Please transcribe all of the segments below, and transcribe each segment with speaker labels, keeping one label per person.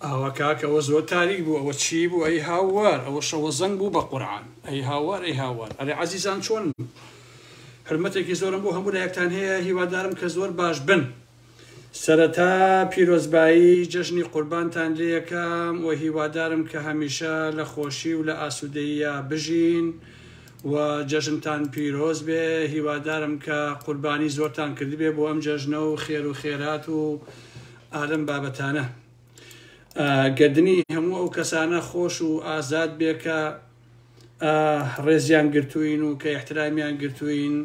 Speaker 1: ئاوا کاک ئەوە زۆر تاریک بوو ئەوە چی بوو ئەی هاوار ئەوە شەوە زەنگ بوو بە قورعان ئەی هاوار ئەی هاوار ئەرێ عزیزان چۆن حرمەتێکی زۆرم بۆ هەموو لایەکتان هەیە هیوادارم کە زۆر باش بن سەرەتا پیرۆزبایی جەژنی قوربانتان لەکەم و هیوادارم کە هەمیشە لە خۆشی و لە ئاسوودەیە بژین و جەژنتان پیرۆز بێ هیوادارم کە قوربانی زۆرتان کردبێ بۆ ئەم جەژنە و خێر و خێرات و ئا لەم بابەتانە ئا گەردنی هەموو ئەو کەسانە خۆش و ئازاد بێ کە ئا ڕێزیان گرتووین و کە احترامیان گرتووین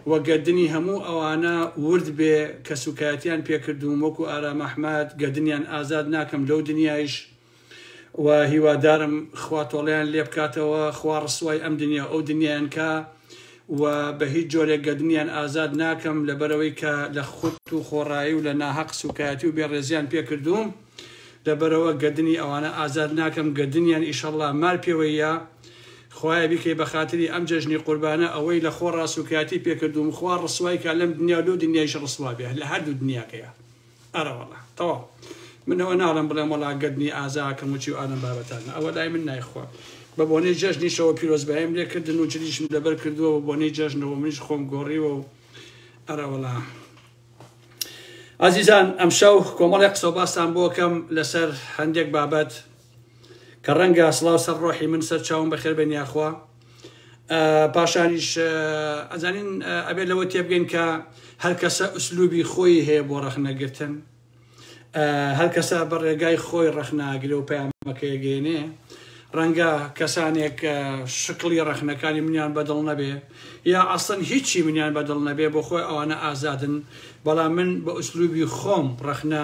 Speaker 1: و گەردنی هەموو ئەوانە ورد بێ کە سوکایەتیان پێکردووم وەکو ئارام ئەحمەد گەردنیان ئازاد ناکەم لەو دنیایش و هیوادارم خوا تۆڵەیان لێ بکاتەوە خوا ڕسوای ئەم دنیا ئەو دنیایان کا و بە هیچ جۆرێک گەدنیان ئازاد ناکەم لەبەرەوەی کە لە خودت و خۆڕایی و لە ناهەق سوکایەتی و بێڕێزیان پێکردووم لەبەرەوە گەدنی ئەوانە ئازاد ناکەم گەدنیان ئیشەڵا مار پێوەیە خوایە بیکەی بە خاتری ئەم جەژنی قوربانە ئەوەی لە خۆڕا سوکایەتی پێکردووم خوا ڕسوای کا لەم دنیا و لەو دنیایش ڕسوا بێ لە هەردوو دنیاکەیە ئەرەوەڵا تەواو من ئەوە ناڵم بڵێم وەڵا گەردنی ئازاکەم و چی و ئالەم بابەتانە ئەوە لای من نایخوا بە بۆنەی جەژنیشەوە پیرۆزبایم لێکردن و جلیشم لەبەر کردووە بە بۆنەی جەژنەوە منیش خۆم گۆڕیوە و ئەرەوەڵا ئازیزان ئەمشەو کۆمەڵی قسە باستان بۆکەم لەسەر هەندێک بابەت کە ڕەنگە سڵاو سەر ڕۆحی من سەر چاوم بەخێر بێن یاخوا پاشانیش ئەزانین ئەبێت لەوە تێبگەین کە هەر کەسە ئوسلوبی خۆی هەیە بۆ ڕەخنەگرتن هەر کەسە بە ڕێگای خۆی ڕەخناگرێ و پەیامەکەی گەێنێ ڕەنگە کەسانێک شکڵی ڕەخنەکانی منیان بەدڵ نەبێ یا ئەسن هیچی منیان بەدڵ نەبێ بۆ خۆی ئەوانە ئازادن بەڵام من بە ئوسلوبی خۆم ڕەخنە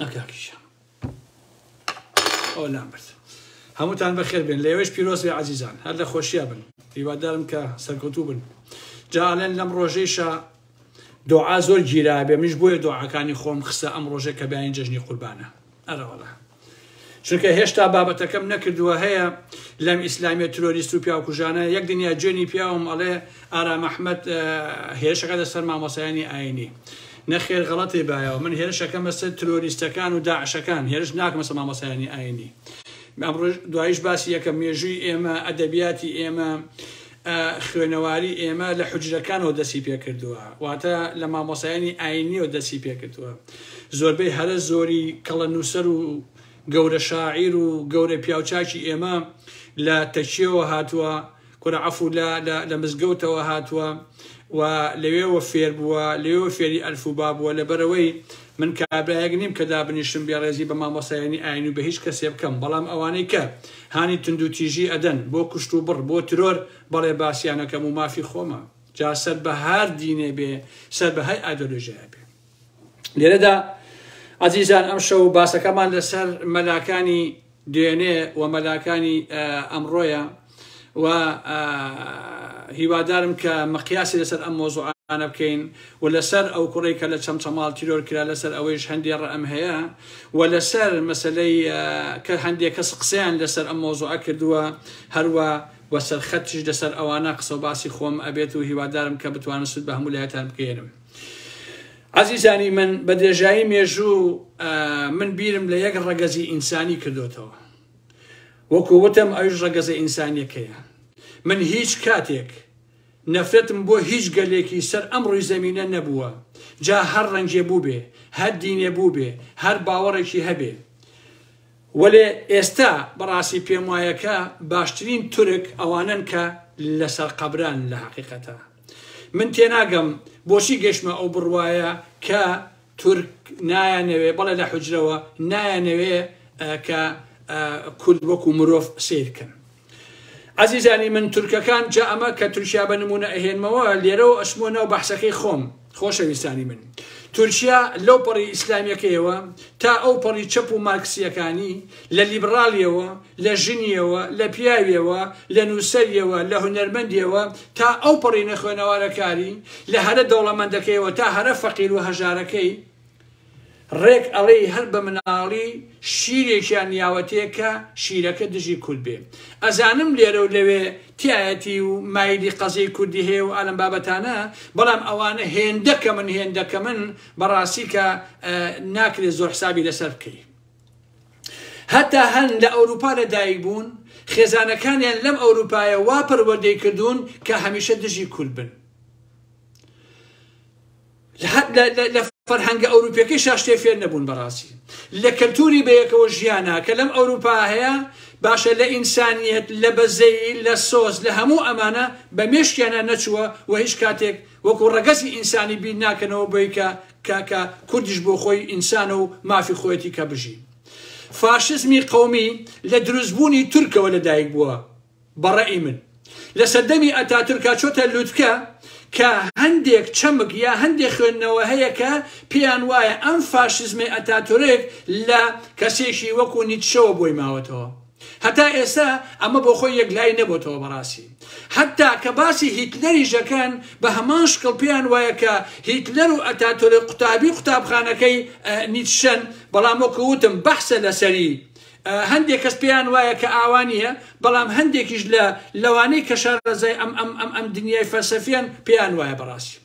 Speaker 1: ئەکاکیشە ئەو لام برد هەمووتان بەخێر بێن لەوێش پیرۆز بێ عزیزان هەر لە خۆشیە بن هیوادارم کە سەرکەوتوو بن جاالێن لەم ڕۆژەیشە دوعا زۆر گیرابێ منش بۆیە دوعاکانی خۆم خستە ئەم ڕۆژێک کە بیانی جەژنی قوربانە ئەرەوەڵا چونکە هێشتا بابەتەکەم نەکردووە هەیە لەم ئیسلامی ترۆریست و پیاکوژانە یەک دنیا جوێنی پیاوم ئەڵێ ئارام ئەحمد هێشەکە دە سەر مامۆسایانی ئاینی نەخێر غەڵەتی بایەوە من هێرشەکەم بەسەر ترۆریستەکان و داعشەکان هێرش ناکەمە سە مامۆسایانی ئاینی دوایش باسی یەکە مێژووی ئێمە ئەدەبیاتی ئێمە خوێنەواری ئێمە لە حوجرەکانەوە دەستی پێکردووە واتە لە مامۆسایانی ئاینیەوە دەستی پێکردووە زۆربەی هەرە زۆری کەڵە نووسەر و گەورە شاعیر و گەورە پیاوچاکی ئێمە لە تەکیەوە هاتووە کورە عفو لە لە مزگەوتەوە هاتووە و لەوێوە فێر بووە لەوێوە فێری ئەلف و با بووە لەبەرەوەی من کابرایەک نیم کە دابنیشم بێڕێزی بە مامۆستایانی ئاین و بە هیچ کەسێ بکەم بەڵام ئەوانەی کە هانی توندوتیژی ئەدەن بۆ کوشت و بڕ بۆ ترۆر بەڵێ باسیان ئەکەم و مافی خۆمە جا سەر بە هەر دینێ بێ سەر بە هەر ئایدۆلۆژیایە بێ لێرەدا ئازیزان ئەمشەو باسەکەمان لەسەر مەلاکانی دوێنێ و مەلاکانی ئەمڕۆیە و هیوادارم کە مقیاسی لەسەر ئەم مۆزوعانە بکەین و لەسەر ئەو کوڕی کە لە چەمچەماڵ تیرۆر کرا لەسەر ئەوەیش هەندێ ڕەم هەیە و لەسەر مەسلەی کە هەندێک کەس قسەیان لەسەر ئەم مۆزوعە کردووە هەروە و سەرخەتیش لەسەر ئەوانە قسە و باسی خۆم ئەبێت و هیوادارم کە بتوانم سود بە هەموو لایتان بگەیەنم. عەزیزانی من بە درێژایی مێژوو من بیرم لە یەک ڕەگەزی ئینسانی کردوتەوە وەکو وتم ئەوش ڕەگەزە ئینسانیەکەیە من هیچ کاتێک نەفرەتم بۆ هیچ گەلێکی سەر ئەم ڕووی زەمینە نەبووە جا هەر ڕەنجێ بوو بێ هەر دینێ بوو بێ هەر باوەڕێکی هەبێ وەلێ ئێستا بەڕاستی پێم وایەکە باشترین تورک ئەوانن کە لەسەر قەبران لە حقیقەتە من تێناگەم بۆچی گەشتمە ئەو بڕوایە کە تورک نایانەوێ بەڵێ لە حجرەوە نایانەوێ کە کورد وەکو مرۆڤ سیرکەن ئازیزانی من تورکەکان جا ئەمە کە تورکیا بە نمونە ئەهێنمەوە لێرەوە ئەشمۆ ناو بەحسەکەی خۆم خۆشەویستانی من تورکیا لەو پەڕی ئیسلامیەکەیەوە تا ئەو پەڕی چەپ و مارکسیەکانی لە لیبڕالیەوە، لە ژنیەوە، لە پیاویەوە، لە نووسەریەوە، لە هونەرمەندیەوە تا ئەو پەڕی نەخوێنەوارەکاری، لە هەرە دەوڵەمەندەکەیەوە تا هەرە فەقیر و هەژارەکەی، ڕێک ئەڵێی هەر بە مناڵی شیرێکیان یاوەتێ کە شیرەکە دژی کورد بێ. ئەزانم لێرە و لەوێ تایەتی و مایلی قەزیەی کوردی هەیە و ئالەم بابەتانە، بەڵام ئەوانە هێندە کەمن هێندە کەمن بەڕاستی کە ناکرێ زۆر حسابی لەسەر بکەی. هەتا هەن لە ئەوروپا لە دایک بوون خێزانەکانیان لەم ئەوروپایە وا پەروەردەی کردوون کە هەمیشە دژی کورد بن لە فەرهەنگە ئەوروپیەکەی شاشتێ فێر نەبوون بەڕاستی لە کەلتوری بەیەکەوە ژیانە کە لەم ئەوروپا هەیە باشە لە ئینسانیت لە بەزەی لە سۆز لە هەموو ئەمانە بە مێشکیانە نەچووە و هیچ کاتێک وەکو ڕگەزی ئینسانی بیر ناکەنەوە بۆیکە کاکە کوردیش بۆ خۆی ئینسانە و مافی خۆیەتی کە بژی. فاشزمی قەومی لە دروست بوونی تورکەوە لە دایک بووە بە ڕەئی من. لە سەردەمی ئەتاتورکا چۆتە لوتکە کە هەندێک چەمک یا هەندێک خوێندنەوە هەیە کە پێیان وایە ئەم فاشزمەی ئەتاتورک لە کەسێکی وەکوو نیتشەوە بۆی ماوەتەوە. هەتا ئێستا ئەمە بۆ خۆی یەکلایی نەبۆتەوە بەڕاستی هەتا کە باسی هیتلەری ژەکەن بە هەمان شکڵ پێیان وایە کە هیتلەر و ئەتاتۆرە قوتابی قوتابخانەکەی نیتشەن بەڵام وەکو وتم بەحسە لەسەری هەندێک کەس پێیان وایە کە ئاوانیە بەڵام هەندێکیش لە لەوانەی کە شارەزای ئەم ئەم ئەم ئەم دنیای فەلسەفیان پێیان وایە بەڕاستی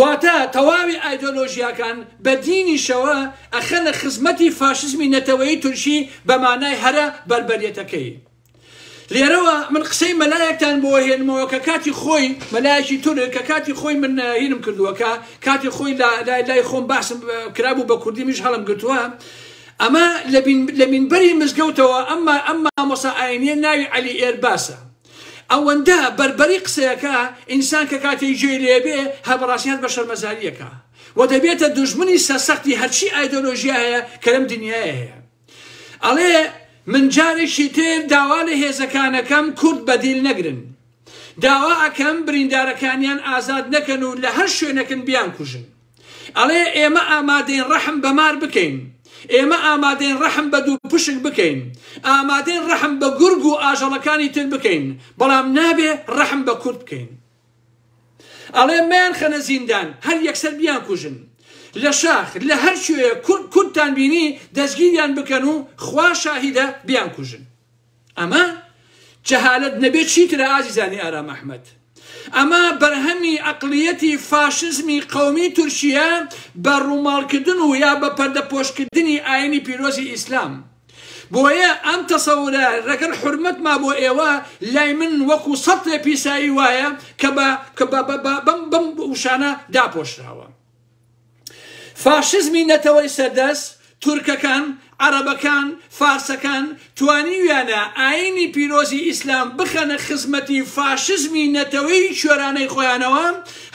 Speaker 1: واتە تەواوی ئایدۆلۆژیاکان بە دینیشەوە ئەخەنە خزمەتی فاشزمی نەتەوەیی تورکی بە مانای هەرە بەربەریەتەکەی. لێرەوە من قسەی مەلایەکتان بۆ هێنمەوە کە کاتی خۆی مەلایەکی تورک کە کاتی خۆی من هینم کردووە کە کاتی خۆی لای خۆم باسم کرابوو بە کوردی میش هەڵم گرتووە ئەمە لە مینبەری مزگەوتەوە ئەمما ئەمما مۆسا ئاینیە ناوی علی ئێرباسە ئەوەندە بەربەری قسەیەکە ئینسان کە کاتێک جێی لێ بێ هەر بەڕاستی هەست بە شەرمەزاریەکا و دەبێتە دوژمنی سەرسەختی هەرچی ئایدۆلۆژیا هەیە کە لەم دنیایە هەیە ئەڵێ من جارێکی تر داوا لە هێزەکانەکەم کورد بەدیل نەگرن داوا ئەکەم بریندارەکانیان ئازاد نەکەن و لە هەر شوێنەکن بیان کوژن ئەڵێ، ئێمە ئامادەین ڕەحم بە مار بکەین، ئێمە ئامادەین ڕەحم بە دووپشک بکەین، ئامادەین ڕەحم بە گورگ و ئاژەڵەکانی تر بکەین، بەڵام نابێ ڕەحم بە کورد بکەین. ئەڵێ، مەیانخەنە زیندان، هەر یەکسەر بیانکوژن. لە شاخ، لە هەر کوێیەک کوردتان بینی، دەستگیریان بکەن و خوا شاهیدە بیانکوژن. ئەمە جەهالەت نەبێت چیترە ئازیزانی ئارام ئەحمەد؟ ئەمە بەرهەمی ئەقڵیەتی فاشزمی قەومی تورکیە بە ڕووماڵکردن و یا بە پەردەپۆشکردنی ئاینی پیرۆزی ئیسلام بۆیە ئەم تەسەورە ڕەگەر حرمەتما بۆ ئێوە لای من وەکو سەتێ پیسایی وایە کە بە بەم بەم وشانە داپۆشراوە فاشزمی نەتەوەی سەردەست، تورکەکان، عەرەبەکان، فارسەکان، توانیویانە ئایینی پیرۆزی ئیسلام بخەنە خزمەتی فاشزمی نەتەوەی کوێرانەی خۆیانەوە،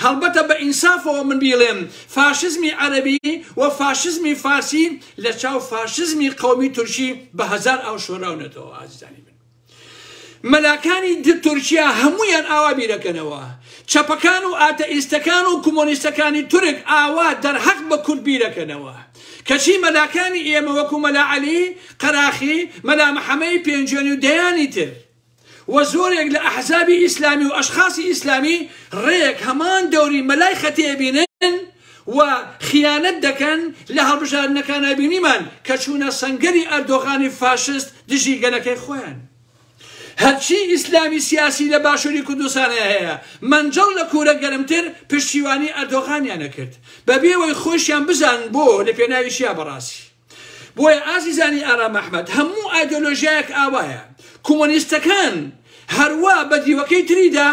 Speaker 1: هەڵبەتە بە ئینسافەوە من بیڵێم فاشزمی عەرەبی و فاشزمی فارسی لە چاو فاشزمی قەومی تورکی بە هەزار ئاو شۆراونەتەوە ئازیزانی من. مەلاکانی تورکیا هەموویان ئاوا بیرەکەنەوە. چەپەکان و ئاتەئیستەکان و کۆمۆنیستەکانی تورک ئاوا دەرهەق بە کورد بیرەکەنەوە. کەچی مەلاکانی ئێمە وەکو مەلا عەلی قەراخی، مەلا محەمەی پێنجوێنی و دەیانی تر و زۆرێک لە ئەحزابی ئیسلامی و ئەشخاسی ئیسلامی ڕێک هەمان دەوری مەلای خەتێبینن، و خیانەت دەکەن لە هەڵبژاردنەکانا بینیمان کە چوونە سەنگەری ئەردۆغانی فاشست دژی گەلەکەی خۆیان هەرچی ئیسلامی سیاسی لە باشووری کوردستانە هەیە مەنجەڵ لە کوورە گەرمتر پشتیوانی ئەردۆغانیانە کرد بەبێ وەی خۆشیان بزان بۆ لە پێناوی شیا بەڕاستی بۆیە ئازیزانی ئارام ئەحمەد هەموو ئایدۆلۆژیایەک ئاوایە کومۆنیستەکان هەروا بە دیوەکەی تریدا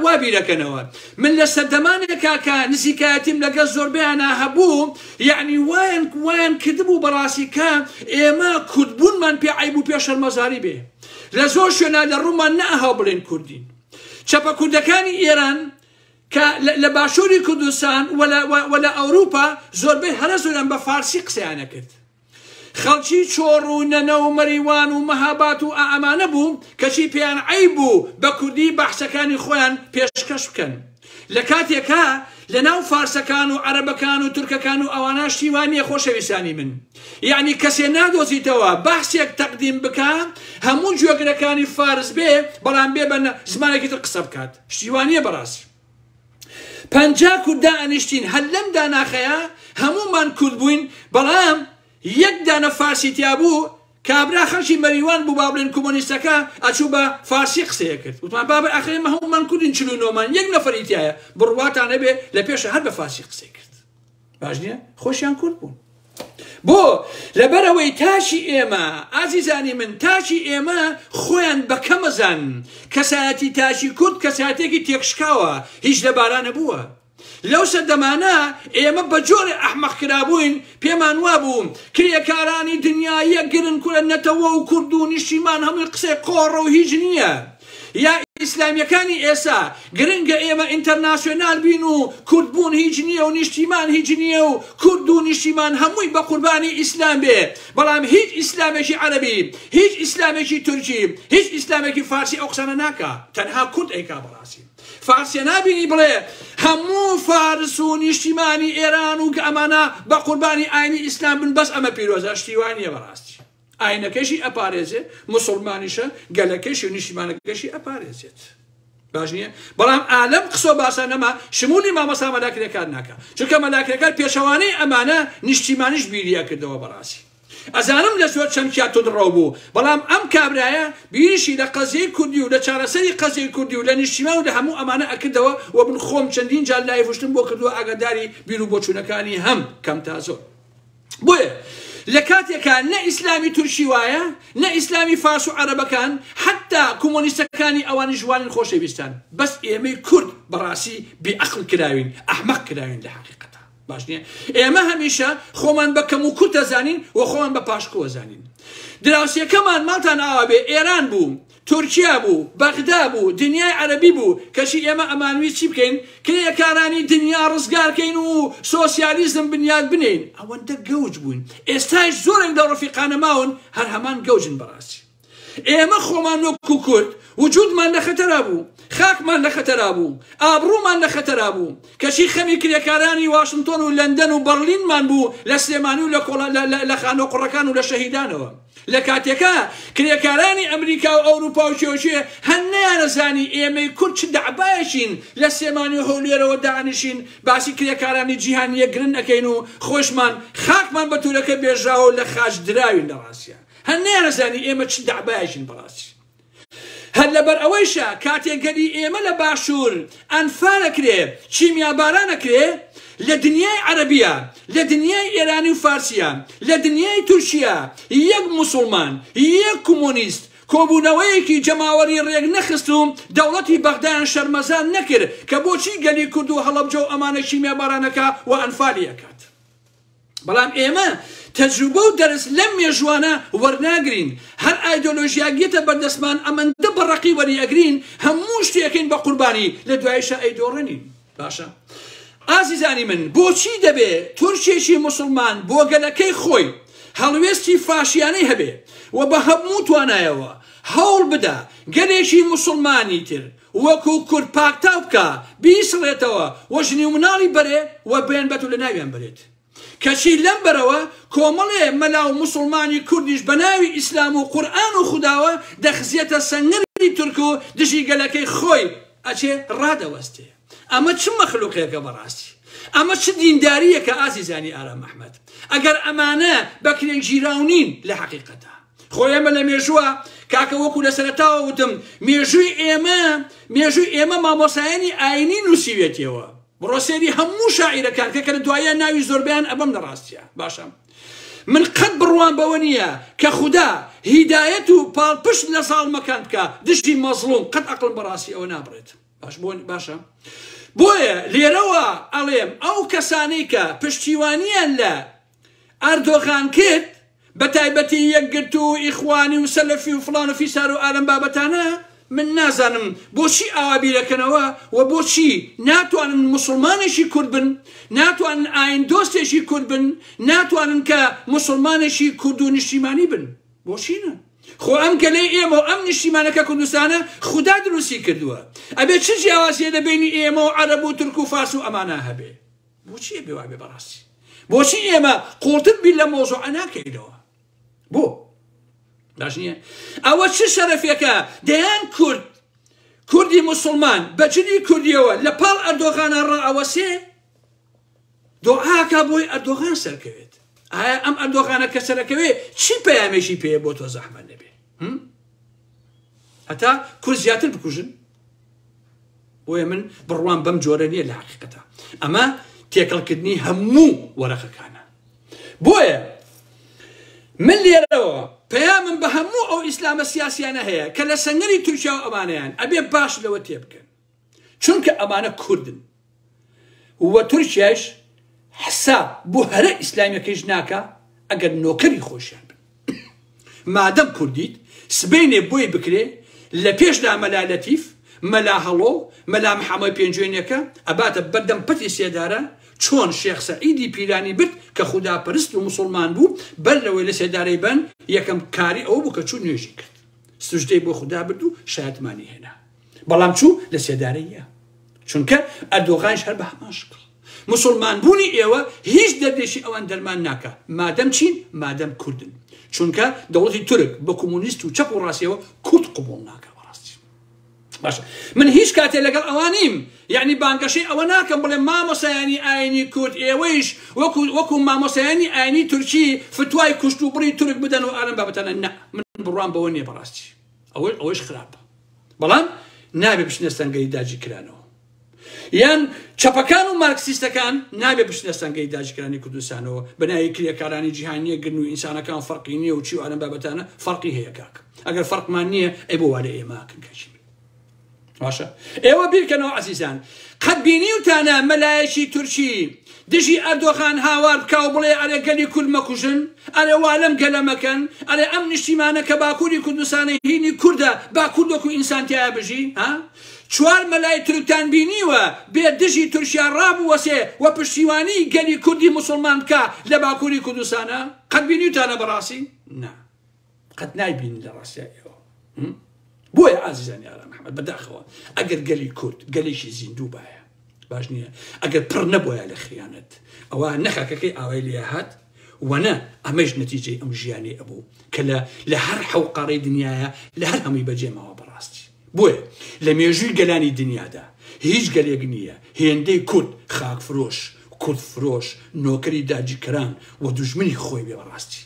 Speaker 1: وا بیرەکەنەوە من لە سەردەمانێکا کە نزیکایەتیم لەگەڵ زۆربەیانا هەبوو یعنی وایان وایان کردبوو بەڕاستی کە ئێمە کوردبوونمان پێ عیب و پێ شەرمەزاری بێ لە زۆر شوێنا لە ڕوومان نەهاو بڵێن کوردین چەپە کوردەکانی ئێران کە لە باشووری کوردستان وە لە ئەوروپا زۆربەی هەرە زۆریان بە فارسی قسەیانە کرد خەڵکی چۆڕ و نەنە و مەریوان و مەهاباد و ئائەمانە بوو کەچی پێیان عەیب بوو بە کوردی بەحسەکانی خۆیان پێشکەش بکەن لە کاتێکا لە ناو فارسەکان و عەرەبەکان و تورکەکان و ئەوانە شتی وا نیە خۆشەویستانی من یەعنی کەسێ نادۆزیتەوە بەحسێک تەقدیم بکا هەموو گوێگرەکانی فارس بێ بەڵام بێ بە زمانێکی تر قسە بکات شتی وا نیە بەڕاستی پەنجا کورد دائەنیشتین هەر لەم داناخەیا هەموومان کورد بووین بەڵام یەک دانە فارسی تیا بوو کابرا خەڵکی مەریوان بوو با بڵێن کۆمۆنیستەکە ئەچوو بە فارسی قسەیە کرد وتمان بابە ئەخێ ئێمە هەموومان کوردین چل و نۆمان یەک نەفەری تایە بڕواتان هەبێ لە پێشە هەر بە فارسی قسەی کرد باش نییە خۆشیان کورد بوون بۆ لەبەرەوەی تاشی ئێمە ئازیزانی من تاشی ئێمە خۆیان بەکەمەزان کەسایەتی تاشی کورد کەساتێکی تێکشکاوە هیچ لەبارانە بووە لەو سەردەمانە ئێمە بە جۆرە ئەحمەق کرابووین پێمان وا بووم کرێکارانی دنیایە گرن کورە نەتەوە و کورد و نیشتیمان هەمووی قسەی قۆڕە و هیچ نییە یا ئیسلامیەکانی ئێسا گرنگە ئێمە ئینتەرناسیۆنال بین و کورد بوون هیچ نییە و نیشتیمان هیچ نییە و کورد و نیشتیمان هەمووی بە قوربانی ئیسلام بێ بەڵام هیچ ئیسلامێکی عەرەبی هیچ ئیسلامێکی تورکی هیچ ئیسلامێکی فارسی ئەو قسانە ناکا تەنها کورد ئەیکا بەڕاستی فارسیە نابینی بڵێ هەموو فارس و نیشتیمانی ئێران و گە ئەمانە بە قوربانی ئاینی ئیسلام بن بەس ئەمە پیرۆزە شتیوانیە بەڕاستی ئاینەکەشی ئەپارێزێت موسڵمانیشە گەلەکەشی و نیشتیمانەکەشی ئەپارێزێت باش نییە بەڵام ئالەم قسۆ باسە نەما شمولی مامەسا مەلاکرێکار ناکە چونکە مەلاکرێکار پێچەوانەی ئەمانە نیشتیمانیش بیریە کردەوە بەڕاستی ئەزانم لە زۆر چەمکیا تودڕەو بوو بەڵام ئەم کابرایە بیریشی لە قەزیەی کوردی و لە چارەسەری قەزیەی کوردی و لە نیشتیمان و لە هەموو ئەمانە ئەکردەوە و من خۆم چەندین جار لایڤشتم بۆ کردووە ئاگاداری بیر و بۆچوونەکانی هەم کەم تا زۆر بۆیە لە کاتێکا نە ئیسلامی تورکی وایە نە ئیسلامی فارس و عەرەبەکان حتا کۆمۆنیستەکانی ئەوانیش وانین خۆشەویستان بەس ئێمەی کورد بەڕاستی بێعقل کراوین ئەحمەق کراوین لە حقیقەتە باش نییە ئێمە هەمیشە خۆمان بە کەم و کورتە زانین و خۆمان بە پاشکووە زانین دراوسێکەمان ماڵتان ئاوا بێ ئێران بوو تورکیا بوو بەغدا بوو دنیای عەرەبی بوو کەچی ئێمە ئەمانویست چی بکەین کرێکارانی دنیا ڕزگار کەین و سۆسیالیزم بنیات بنێین ئەوەندە گەوج بووین ئێستایش زۆرێک لە ڕەفیقانە ماون هەر هەمان گەوجن بەڕاستی ئێمە خۆمان وەک و کورد وجودمان لە خەتەرا بوو خاکمان لە خەتەرا بوو ئابڕوومان لە خەتەرا بوو کەچی خەمی کرێکارانی واشنتۆن و لەندەن و بەڕلینمان بوو لە سلێمانی و لە خانۆ قوڕەکان و لە شەهیدانەوە لە کاتێکا کرێکارانی ئەمریکا و ئەوروپا و کێوکێ هەن نەیانەزانی ئێمەی کورد چ دەعبایەکین لە سلێمانی و هەولێرەوە دانیشین باسی کرێکارانی جیهان یەکگرن ئەکەین و خۆشمان خاکمان بە تورەکە بێژراوە و لە خاچ دراوین لە ڕاستیا هەن نەیانەزانی ئێمە چ دەعبایەکین بەڕاستی هەر لەبەر ئەوەیشە کاتێ گەلی ئێمە لە باشوور ئەنفال ئەکرێ، کیمیا باران ئەکرێ، لە دنیای عەرەبیە، لە دنیای ئێرانی و فارسیە، لە دنیای تورکیە، یەک موسوڵمان، یەک کومونیست، کۆبوونەوەیەکی جەماوەری رێک نەخست و دەوڵەتی بەغدایان شەرمەزار نەکرد کە بۆچی گەلی کورد و هەڵەبجە و ئەمانە کیمیا باران ئەکا و ئەنفالی ئەکات. بەڵام ئێمە تەجروبە و دەرس لەم مێژووانە وەرناگرین هەر ئایدۆلۆژیاک یەتە بەردەستمان ئەمەندە بە ڕەقی وەری ئەگرین هەموو شتێکین بە قوربانی لە دوایشە ئەیدۆڕێنین باشە ئازیزانی من بۆچی دەبێ تورکێکی مسلمان بۆ گەلەکەی خۆی هەڵوێستی فاشیانەی هەبێ و بە هەموو توانایەوە هەوڵ بدا گەلێکی مسلمانی تر وەکو کورد پاکتاو بکا بیسڕێتەوە و ژنی و مناڵی بەرێ و بێن بەت و لەناویان بەرێت کەچی لەم بەرەوە کۆمەڵێ مەلا و موسڵمانی کوردیش بەناوی ئیسلام و قورئان و خوداوە دەخزێتە سەنگەری تورک و دژی گەلەکەی خۆی ئەچێ ڕادەوەستێ ئەمە چ مەخلوقێکە بەڕاستی ئەمە چ دینداریەکە ئازیزانی ئارام ئەحمەد ئەگەر ئەمانە بەکرێگیراونین لە حەقیقەتە خۆ ئێمە لە مێژووە کاکە وەکو لە سەرتاوە وتم مێژووی ئێمە مێژووی ئێمە مامۆسایانی ئاینی نووسیوێتەوە بڕۆسێری هەموو شاعیرەکان کە کە دوایە ناوی زۆربیان ئەبم لە ڕاستە باشە من قەت بڕوان بەوە نییە کە خوددا هیدایەت و پاڵپشت لە زاڵمەکان بکە دژی مەزڵوم قەت ئەقلم بەڕاستی ئەوە نابڕێت باش بۆن باشە بۆیە لێرەوە ئەڵێم ئەو کەسانەی کە پشتیوانیان لە ئەردۆغان کرد بە تایبەتی یەکگرتوو و ئیخوانی و سەلەفی و فڵان و فیسار و ئالەم بابەتانە من نازانم بۆچی ئاوا بیرەکەنەوە و بۆچی ناتوانن موسڵمانێکی کورد بن ناتوانن ئاین دۆستێکی کورد بن ناتوانن کە موسڵمانێکی کورد و نیشتیمانی بن بۆچینە خۆ ئەم گەلەی ئێمە و ئەم نیشتیمانەکە کوردستانە خودا دروستی کردووە ئەبێ چ جیاوازیە لە بینی ئێمە و عەرەب و تورک و فارس و ئەمانە هەبێ بۆچی ئەبێ وابێ بەڕاستی بۆچی ئێمە قوڵتر بیر لە مۆزوعە ناکەینەوە بۆ باش نییە ئەوە چ شەرەفێکە دەیان کورد کوردی مسلمان بە جلی کوردیەوە لە پاڵ ئەردۆغانە ڕائەوەسێ دۆعاکە بۆی ئەردۆغان سەرکەوێت ئایا ئەم ئەردۆغانە کە سەرەکەوێ چی پەیامێکی پێ بۆ تۆ زەحمە نەبێ هەتا کورد زیاتر بکوژن بۆیە من بڕوام بەم جۆرە نییە لە حقیقەتە ئەمە تێکەڵکردنی هەموو وەرەقەکانە بۆیە من لێرەوە پەیامم بە هەموو ئەو ئیسلامە سیاسیانە هەیە کە لە سەنگەری تورکیا و ئەمانیان ئەبێ باش لەوە تێبکەن چونکە ئەمانە کوردن وە تورکیایش حساب بۆ هەرە ئیسلامیەکەیش ناکا ئەگەر نۆکەری خۆشیان بن مادەم کوردیت سبەینێ بۆی بکرێ لە پێشدا مەلا لەتیف مەلا هەڵۆ مەلا محەمەی پێنجوێنەکە ئەباتە بەردەم پەتی سێدارە چۆن شێخ سەعیدی پیرانی برد کە خودا پەرست و مسلمان بوو بەر لەوەی لە سێدارەی بەن یەکەم کاری ئەوە بوو کە چوو نوێژی کرد سوژدەی بۆ خودا برد و شایەتمانی هێنا بەڵام چوو لە سێدارەیە چونکە ئەردۆغانش هەر بە هەمان شکڵ مسلمان بوونی ئێوە هیچ دەردێکی ئەوان دەرمان ناکە مادەم چین مادەم کوردن چونکە دەوڵەتی تورک بە کۆمونیست و چەپ و ڕاستەوە کورد قوبڵ ناکە بەڕاستی باش من هیچ کاتێ لەگەڵ ئەوانیم یعنی بانگەشەی ئەوە ناکەم بڵێ مامۆسایانی ئاینی کورد ئێوەیش وەکو وەکو مامۆسایانی ئاینی تورکی فتوای کوشت و بڕی تورک بدەن و ئارم بابەتەنە نە من بڕوام بەوە نیە بەڕاستی ئەوەی ئەوەش خراپە بەڵام نابێ بچنە سەنگەری داجی کرانەوە یان چەپەکان و مارکسیستەکان نابێ بچنە سەنگەی داجکرانی کوردستانەوە بەناوی کرێکارانی جیهانیە گرن و ئینسانەکان فەرقی نییە و چی و ئەرم بابەتانە فەرقی هەیە کاک ئەگەر فەرقمان نییە ئەی بۆ وارە ئێماکن کەچی باشە ئێوە بیرکەنەوە عزیزان قەت بینیوتانە مەلایەکی تورکی دژی ئەردۆغان هاوار بکاو بڵێ ئەرێ گەلی کورد مەکوژن ئەرێ والم گەلە مەکەن ئەرێ ئەم نیشتیمانە کە باکووری کوردستانی هینی کووردە با کوردۆک و ئینسانتیایە بژی ها چوار مەلای تورکتان بینیوە بێ دژی تورکیا ڕابوەسێ و پشتیوانی گەلی کوردی مسلمان بکە لە باکووری کوردستانە قەت بینیوتانە بەڕاستی نا قەت نایبینن لە ڕاستای ئێوە هم؟ بۆیە ئازیزانی ئارام محمد بەداخەوە ئەگەر گەلی کورد گەلێکی زیندوو باە باش نییە ئەگەر پڕ نەبووە لە خیانەت ئەوە نەخەکەکەی ئاوای لێ هات وەنە ئەمەش نەتیجەی ئەم ژیانی ئەبوو کە لە لە هەر حەوقەڕی دنیاە لە هەر هەمووی بەجێماوە بەڕاستی بۆیە لە مێژووی گەلانی دنیادا هیچ گەلێک نییە هێندەی کورد خاک فرۆش کورد فرۆش نۆکەری داجیکەران و دژمنی خۆی بێ بەڕاستی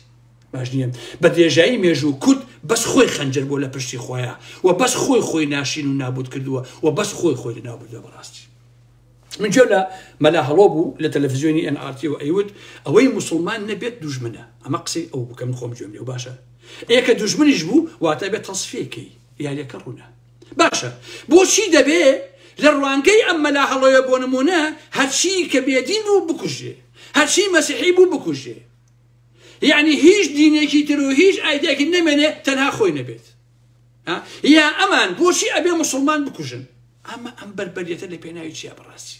Speaker 1: باش نییە بە درێژایی مێژوو کورد بەس خۆی خەنجەر بۆ لە پشتی خۆیە و بەس خۆی خۆی ناشین و نابوت کردووە و بەس خۆی خۆی لەناو بردە بەڕاستی من جۆ لە مەلا هەڵۆ بوو لە تەلەڤزیۆنی ئەن ئارتی و ئەیوت ئەوەی مسلمان نەبێت دوژمنە ئەمە قسەی ئەو بکەم خۆم جوێم لێ و باشە ئێکە دوژمنیش بوو واتە بێت تەسفێکەی یاریەکە ڕوونە باشە بۆچی دەبێ لە ڕوانگەی ئەم مەلا هەڵۆیە بۆ نمونە هەرچی کە بێدین بوو بکوژێ هەرچی مەسیحی بوو بکوژێ یەعنی هیچ دینێکی تر و هیچ ئایدیاکی نەمێنێ تەنها خۆی نەبێت یا ئەمان بۆچی ئەبێ مسلمان بکوژن ئەمە ئەم بەربەریەتە لە پێناوی چیا بڕاستی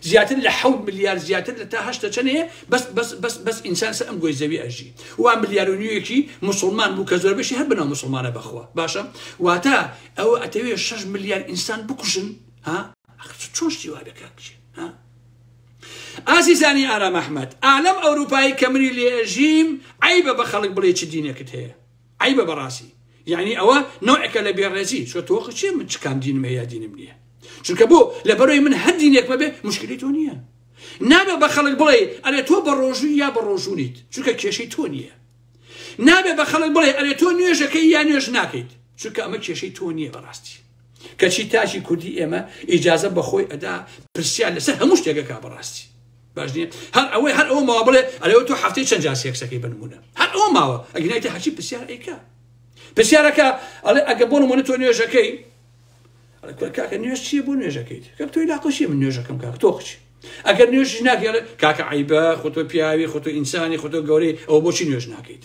Speaker 1: زیاتر لە حەوت ملیار زیاتر لە تا هەشتە چەنەیە بەس بەس بەس بەس ئینسان سە ئەم گۆی زەوی ئەژی وا ملیار و نیوەکی مسلمان بوو کە زۆر بەشی هەر بنەوە مسلمانە بەخوا باشە واتە ئەوە ئەتەوێ 6 ملیار ئینسان بکوژن ها چۆشتی وا دەکات ها ئازیزانی ئارام ئەحمەد ئالەم ئەوروپایی کە منی لێ ئەژیم عیبە بە خەڵک بڵێ چ دینێکت هەیە عیبە بەڕاستی یعنی ئەوە نوعەکە لە بێڕێزی چۆ تۆخ چێ من چکان دینم هەیە دینم نییە چونکە بۆ لە بەرەوەی من هەر دینێک بەبێ مشکلی تۆ نییە نابێ بە خەڵک بڵێ ئەرێ تۆ بە ڕۆژووی یا بە ڕۆژوونیت چونکە کێشەی تۆ نییە نابێ بە خەڵک بڵێ ئەرێ تۆ نوێژەکەی یا نوێژ ناکەیت چونکە ئەمە کێشەی تۆ نییە بەڕاستی کەچی تاکی کوردی ئێمە ئیجازە بەخۆی ئەدا پرسیار لەسەر هەموو شتێکە کا بەڕاستی باش نیە هەر ئەوەی هەر ئەوە ماوە بڵێ ئەلەوە تۆ هەفتەی چەند جا سێکسەکەی بنمونە هەر ئەوە ماوە ئەگنایتە هەچی پرسیار ئەیکە پرسیارەکە ئەڵێ ئەگە بۆ نمونە تۆ نوێژەکەی کاکە نوێژ چیە بۆ نوێژەکەیت کە تۆی لاقشی من نوێژەکەم کاک تۆ قچی ئەگەر نوێژ ناکەڵێ کاکە عیبە خۆتۆ پیاوی خۆتۆ ئینسانی خۆتۆ گەورەی ئەو بۆچی نوێژ ناکەیت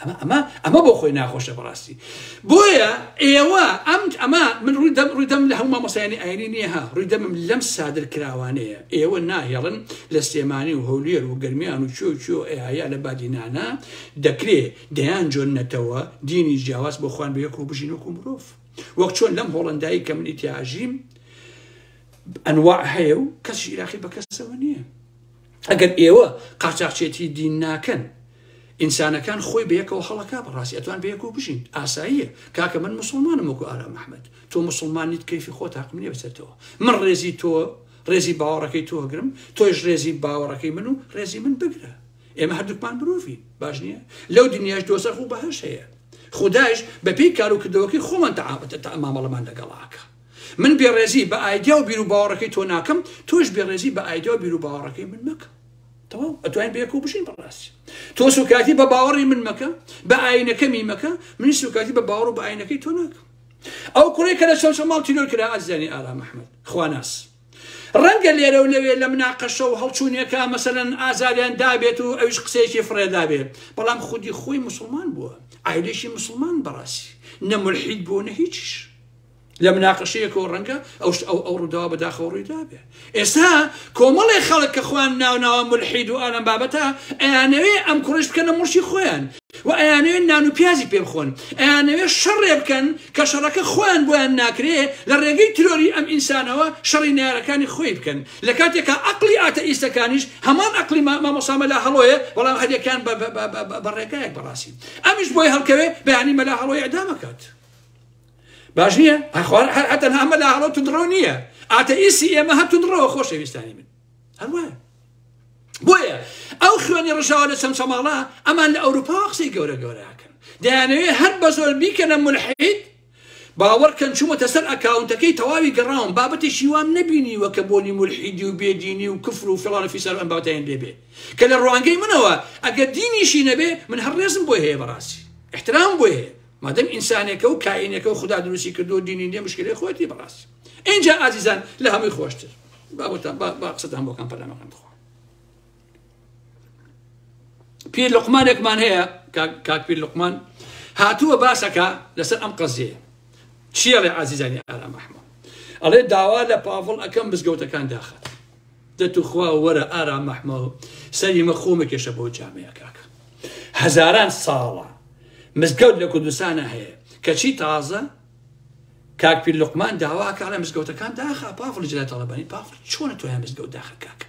Speaker 1: ئەمە ئەمە ئەمە بۆ خۆی ناخۆشە بەڕاستی بۆیە ئێوە ئەم ئەمە من ڕووی دەم ڕووی دەم لە هەموو مامۆسایانی ئاینی نییە ها ڕووی دەمم لەم سادر کراوانەیە ئێوە ناهێڵن لە سلێمانی و هەولێر و گەرمیان و چۆ چۆ ئەیە لە بادینانە دەکرێ دەیان جۆن نەتەوە دینی جیاواز بۆ خوان بەیەک و بژین وەکو مرۆڤ وەک چۆن لەم هۆڵندایی کە منی تیاژیم ئەنواع هەیە و کەسی عراقی بەکەسەوە نییە ئەگەر ئێوە قاچاخچێتی دین ناکەن ئینسانەکان خۆی بەیەکەوە هەڵەکە بەڕاستی ئەتوان بەیەکەوە بژین ئاساییە کاکە من مسلمانم وەکو ئارا مححمد تۆ مسلمانیت کەفی خۆ تاقم نیە بچێتەوە من ڕێزی تۆ ڕێزی باوەڕەکەی تۆ هەگرم تۆش ڕێزی باوەڕەکەی من و ڕێزی من بگرە ئێمە هەردووکمان مرۆڤین باش نییە لەو دنیاش دۆزەخ و بەهش هەیە خدایش بەپێی کار و کردەوەکەی خۆمان تەعاامەتە تا ئەمامەڵەمان لەگەڵاکە من بێڕێزی بە ئایدیا و بیروباوەڕەکەی تۆ ناکەم تۆش بێڕێزی بە ئایدیا و بیروباوەڕەکەی من مەکە تەواو ئەتوانین بەیەکەوە بژین بەڕاستی تۆ سوکایەتی بە باوەڕی من مەکە بە ئاینەکەمی مەکە من سوکایەتی بە باوەڕ و بە ئاینەکەی تۆ ناکەم ئەو کوڕی کە لە چەوچەماڵ تیرۆر کرا ئازیانی ئارا محمد خواناس ڕەنگە لێرە و لەوێ لە مناقەشە و هەڵچوونێکە مەسەن ئازاریان دابێت و ئەوش قسەیەکی فڕێدابێ بەڵام خودی خۆی مسلمان بووە ئایلێکی مسلمان بەڕاستی نەملحید بوو نە هیچیش لە مناقەشەیەکەوە ڕەنگە ئەوش ئەو ئەو ڕووداوە بەداخەوە ڕووی دابێ ئێستا کۆمەڵێ خەڵک کە خۆیان ناوناوە ملحید و ئالم بابەتە ئەیانەوێ ئەم کوڕش بکەنە مڵشی خۆیان و ئەیانەوێ نان و پیازی پێ بخۆن ئەیانەوێ شەڕێ بکەن کە شەڕەکە خۆیان بۆیان ناکرێ لە ڕێگەی ترۆری ئەم ئینسانەوە شەڕی نیارەکانی خۆی بکەن لە کاتێکا ئەقلی ئاتە ئیسەکانیش هەمان ئەقلی مامۆسامە لە هەڵۆیە بەڵام هەریەکان بەڕێگایەک بەڕاستی ئەمیش بۆی هەڵکەوێ بەیانی مەلا هەڵۆی ئەدامەکات باش نییە هەخوار هەر ئەتەنها مەلا هەڵۆ تندڕەو نییە ئاتەئیسی ئێمە هەر تندڕەوە خۆشەویستانی من هەروە بۆیە ئەو خوێنی ڕژاوە لە چەند چەماڵە ئەمان لە ئەوروپا قسەی گەورە گەوراکەن دەیانەوێ هەر بە زۆر بیکەنە ملحید باوەڕکەن چوومەتە سەر ئەکاونتەکەی تەواوی گەڕاوم بابەتی شیوام نبینیوە کە بۆنی ملحیدی و بێدینی و کفر و فڵانە فیسەر ئەم باوتەیان لێبێ کە لە ڕوانگەی منەوە ئەگەر دینیشی نەبێ من هەر ڕێزم بۆ هەیە بەڕاستی احترام بۆ هەیە مادەم ئینسانێکە و کائینێکە و خودا دروستی کردو و دینی نیە مشکلەی خۆتی بەڕاست ئینجا ئازیزان لە هەمووی خۆشتر بابتان با قسەتان بۆکان پەلامەکان بخۆ پیر لقمانێکمان هەیە کاک پیر لقمان هاتووە باسەکە لەسەر ئەم قەزیە چیەڵێ ئازیزانی ئارام ئەحمە ئەڵێ داوا لە پاڤڵ ئەەکەم بزگەوتەکان داخات دە توخوا وەرە ئارام مەحمەو سەری مە خۆ مەکێشە بەو جامەیە کاکە هەزاران ساڵە مزگەوت لە کوردستانە هەیە کەچی تازە کاک پیر لقمان داواکە لە مزگەوتەکان داخە پافڵ جلە تەڵەبانی پافڵ چۆنە تۆ هەم مزگەوت داخە کاکە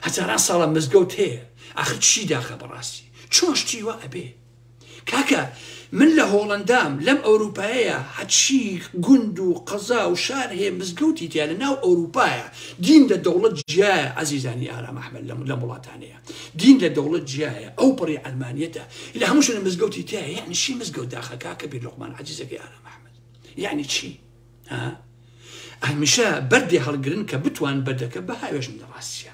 Speaker 1: هەزاران ساڵە مزگەوت هەیە ئاخر چی داخە بەڕاستی چۆن شتی وە ئەبێ کاکە من لە هۆڵەندام لەم ئەوروپایەیا هەچی گوند و قەزا و شار هەیە مزگەوتی تیا لە ناو ئەوروپایە دین لە دەوڵەت جیایە ئازیزانی ئارام ئەحمەد لەم لەم وڵاتانەیە دین لە دەوڵەت جیایە ئەو پەڕی عەلمانیەتە لە هەموو شوێنە مزگەوتی تیا یعنی چی مزگەوت داخە کاکە بیر لوقمان عەزیزەکەی ئارام ئەحمەد یعنی چی ها هەمیشە بەردێ هەڵگرن کە بتوان بەردەکە بە هاوێژن لە ڕاستیە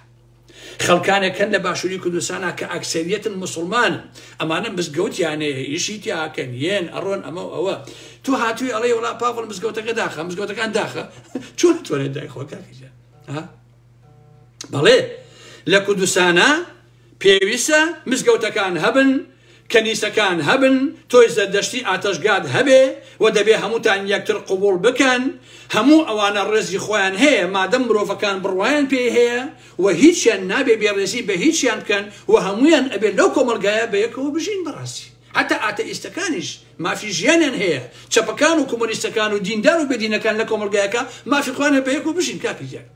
Speaker 1: خەڵکانێک هەن لە باشووری کوردستانا کە ئەکسەریەتن مسلمان ئەمانە مزگەوتیانەیە یشی تیاکەن یەن ئەڕۆن ئەمە ئەوە تو هاتووی ئەڵێ وڵا پاڤڵ مزگەوتەکە داخە مزگەوتەکان داخە چۆن تۆرێت دای خۆکەکەجە بەڵێ لە کوردستانە پێویستە مزگەوتەکان هەبن کەنیسەکان هەبن تۆی زەردەشتی ئاتەشگات هەبێ و دەبێ هەمووتان یەکتر قبوڵ بکەن هەموو ئەوانە ڕێزی خۆیان هەیە مادەم مرۆڤەکان بڕوایان پێی هەیە و هیچیان نابێ بێ ڕێزی بە هیچیان بکەن و هەموویان ئەبێ لەو کۆمەڵگایە بەیەکەوە بژین بەڕاستی حتا ئاتەئیستەکانیش مافی ژیانیان هەیە چەپەکان و کۆمۆنیستەکان و دیندار و بێدینەکان لە کۆمەڵگایەکە مافی خۆیانە بەیەکەوە بژین کاکە گیان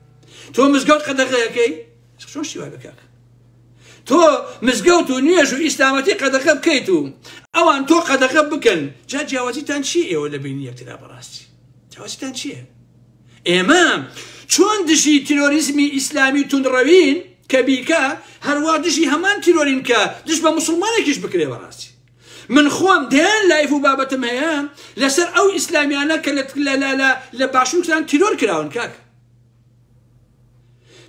Speaker 1: تۆ مزگەوت قەدەغەکەی چۆن شتی وای بکاک تۆ مزگەوت و نوێژ و ئیسلامەتی قەدەخە بکەیت و ئەوان تۆ قەدەخە بکەن جا جیاوازیتان چی ئێوە لە بینی یەکترا بەڕاستی جیاوازیتان چییە ئێمە چۆن دژی تیرۆریزمی ئیسلامی تونڕەوین کە بیکە هەروە دژی هەمان تیرۆرین کە دژ بە مسلمانێکیش بکرێ بەڕاستی من خۆم دەیان لایف و بابەتم هەیە لەسەر ئەو ئیسلامیانە کە لە باشوکتان تیرۆر کراون کاک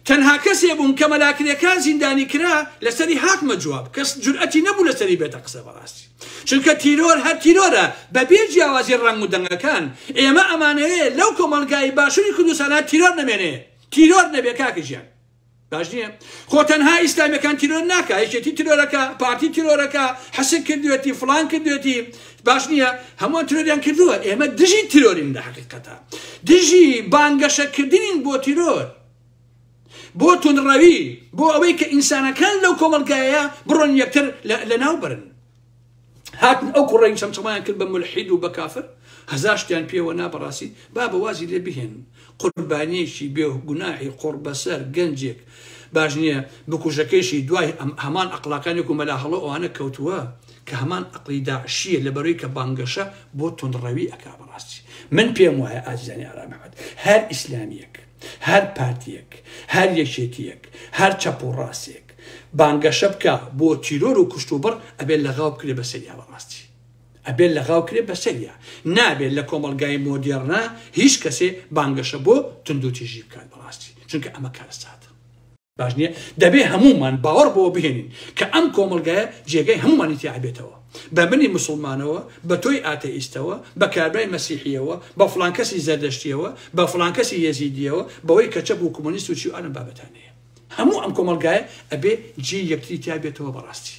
Speaker 1: تەنها کەسێ بووم کە مەلا کرێکار زیندانی کرا لەسەری هاتمە جواب کەس جورئەتی نەبوو لەسەری بێتە قسە بەڕاستی چونکە تیرۆر هەر تیرۆرە بەبێ جیاوازی ڕەنگ و دەنگەکان ئێمە ئەمانەیە لەو کۆمەڵگای باشووری کوردستانە تیرۆر نەمێنێ تیرۆر نەبێ کاکە ژیان باش نییە خۆ تەنها ئیسلامیەکان تیرۆر ناکە یەکێتی تیرۆرەکە پارتی تیرۆرەکە حەسک کردوێتی فلان کردوێتی باش نییە هەمووان ترۆریان کردووە ئێمە دژی ترۆرین لە حقیقەتە دژی بانگەشەکردین بۆ تیرۆر بۆ تونڕەوی بۆ ئەوەی کە ئینسانەکان لەو کۆمەلگایە بڕۆن یەکتر لە ناو برن هاتن ئەو کوڕەی چەمچەمایان کرد بە ملحید و بە کافر هەزار شتیان پێوە نا بەڕاستی بابە وازی لێ بهێن قوربانیەکی بێ گوناحی قوڕ بەسەر گەنجێک باش نییە بکوژەکەیشی دوای هەمان ئەقلاکانێک و مەلا هەڵۆ ئەوانە کەوتووە کە هەمان ئەقلی داعشیە لە بەرەوەی کە بانگەشە بۆ تونڕەوی ئەکا بەڕاستی من پێم وایە ئازیزانی ئارامەحمەد هەر ئیسلامیەک هەر پارتیەک هەر یەکێتیەک هەر چەپ و ڕاستێک بانگەشە بکا بۆ تیرۆر و کوشت و بڕ ئەبێ لەغاو بکرێ بەسەریا بەڕاستی ئەبێ لەغاو کرێ بەسەریا نابێت لە کۆمەڵگای مۆدێڕنا هیچ کەسێ بانگەشە بۆ توندوتیژی بکات بەڕاستی چونکە ئەمە کارەساتە باش نییە دەبێ هەمومان باوەڕ بۆ بهێنین کە ئەم کۆمەلگایە جێگەی هەمومانی تیاعبێتەوە بە منی مسلمانەوە بە تۆی ئاتەئیستەوە بە کابرای مەسیحیەوە بە فلانکەسی زەردەشتیەوە بە فلانکەسی یەزیدیەوە بەوەی کەچە بوو کۆمۆنیست و چی ئەم بابەتانەیە هەموو ئەم کۆمەڵگایە ئەبێ جێی یەکتری تیا بێتەوە بەڕاستی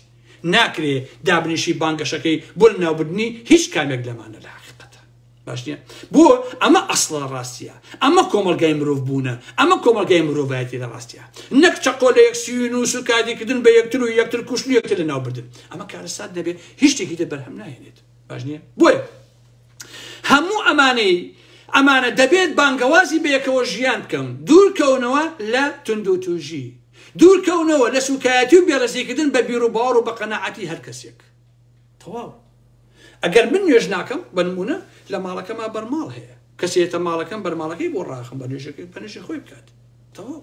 Speaker 1: ناکرێ دابنیشی بانگەشەکەی بۆ لەناوبردنی هیچ کامێک لەمانە لە حقیقەتە باش نیە بۆ ئەمە ئەسڵە ڕاستیە ئەمە کۆمەڵگای مرۆڤ بوونە ئەمە کۆمەڵگای مرۆڤایەتی لە ڕاستە نەک چەقۆ لە یەکسیوی نووس و کاریکردن بە یەکتر و یەکتر کوشت و یەکتر لەناوبردن ئەمە کارەسات نەبێ هیچ شتێکی دە بەرهەم ناهێنێت باش نیە بۆیە هەموو ئەمانەی ئەمانە دەبێت بانگەوازی بەیەکەوە ژیان بکەن دوورکەونەوە لە توندوتوژی دوورکەونەوە لە سوکایەتی و بێڕزیکردن بە بیر و باوەڕ و بە قەنەعەتی هەر کەسێک تەواو ئەگەر من نوێژ ناکەم بە نمونە لە ماڵەکەما بەرماڵ هەیە کەسێتە ماڵەکەم بەرماڵەکەی بۆ ڕاخم بە نوێژەکەی بەنوێژی خۆی بکات تەواو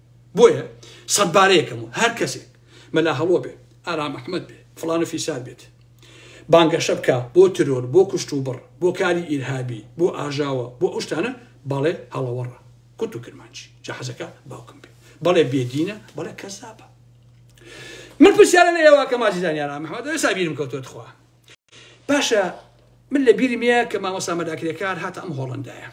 Speaker 1: بۆیە سەدبارەیەکەم و هەر کەسێک مەلا هەڵۆ بێ، ئارام ئەحمەد بێ، فڵان و فیسار بێت بانگەشە بکا بۆ ترۆر، بۆ کوشتوبڕ، بۆ کاری ئیرهابی، بۆ ئاژاوە، بۆ ئەو شتانە، بەڵێ هەڵەوەڕە، کورد و کرمانجی، جا حەزەکا باوکم بێ، بەڵێ بێدینە، بەڵێ کەزابە. من پرسیارە لە ئێوە ئەکەم، ئازیزانی ئارام ئەحمەد، ئێستا بیرم کەوتووە تخوا باشە من لە بیرم یە کە مامۆستا مەداکرێکار هاتە ئەم هۆڵندایە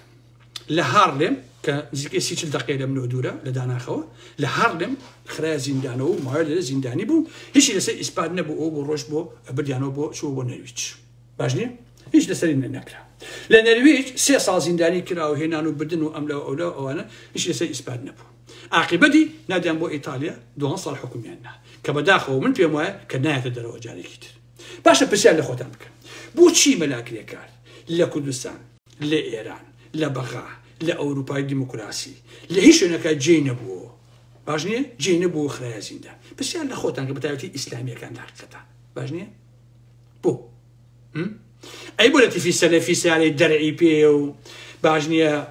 Speaker 1: لە هارلێم کە نزیکەی سی چل دقی لەم نۆ دوورە لە داناخەوە لە هارلێم خراە زیندانەوە و ماوە لە زیندانی بوو هیچی لەسەر ئیسپات نەبوو ئەو بۆ ڕۆژ بۆ بردیانەوە بۆ چوە بۆ نەویچ باش نیە هیچ لەسەری نەکرا لە نەرویج سێ ساڵ زیندانی کرا و هێنان و بدن و ئەملا ئەولا ئەوانە هیچ لەسەر ئیسپات نەبوو عقیبەتی نادیان بۆ ئیتالیا دوان ساڵ حکومیان نا کە بەداخەوە من پێم وایە کە نایەتە دەرەوە جارێکی تر باشە پرسیار لە خۆتان بکەن بۆچی مەلا کرێکار لە کوردستان، لە ئێران، لە بەغا، لە ئەوروپای دیموکراسی، لە هیچ شوێنەکە جێی نەبووەوە؟ باش نییە؟ جێی نەبوو و خرایە زیندان. پرسیار لە خۆتان کە بەتایبەتی ئیسلامییەکان لە حەقیقەتان. باش نییە؟ بۆ؟ ئەی بۆ لە تیفی سەلەفی سیارەی دەرعی پێیە و باش نییە